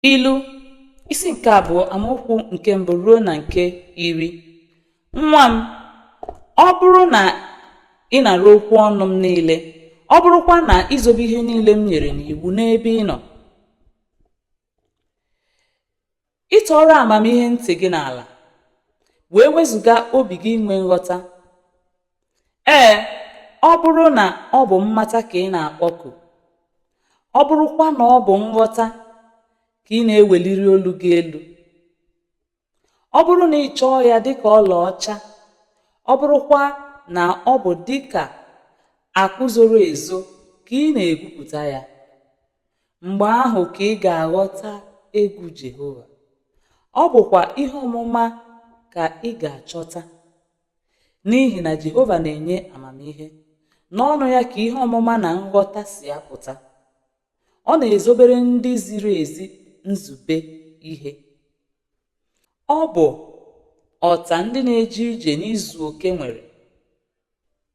Ilu isi nke abụọ amaokwu nke mbụ ruo na nke iri nwa m ọ bụrụ na ị nara okwu ọnụ m niile ọ bụrụkwa na i zobe ihe niile m nyere n'iwu n'ebe ị nọ ịtọrọ amamihe ntị gị n'ala wee wezụga obi gị inwe nghọta ee ọ bụrụ na ọ bụ mmata ka ị na-akpọku ọ bụrụkwa na ọ bụ nghọta ka ị na-eweliri olu gị elu ọ bụrụ na ị chọọ ya dịka ọlaọcha ọ bụrụkwa na ọ bụ dịka akụ zoro ezo ka ị na-egwupụta ya mgbe ahụ ka ị ga-aghọta egwu Jehova ọ bụkwa ihe ọmụma ka ị ga-achọta n'ihi na Jehova na-enye amamihe n'ọnụ ya ka ihe ọmụma na nghọta si apụta ọ na-ezobere ndị ziri ezi nzube ihe ọ bụ ọta ndị na-eje ije n'izu oke nwere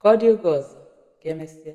Ka ọ dị oge ọzọ, ka emesịa.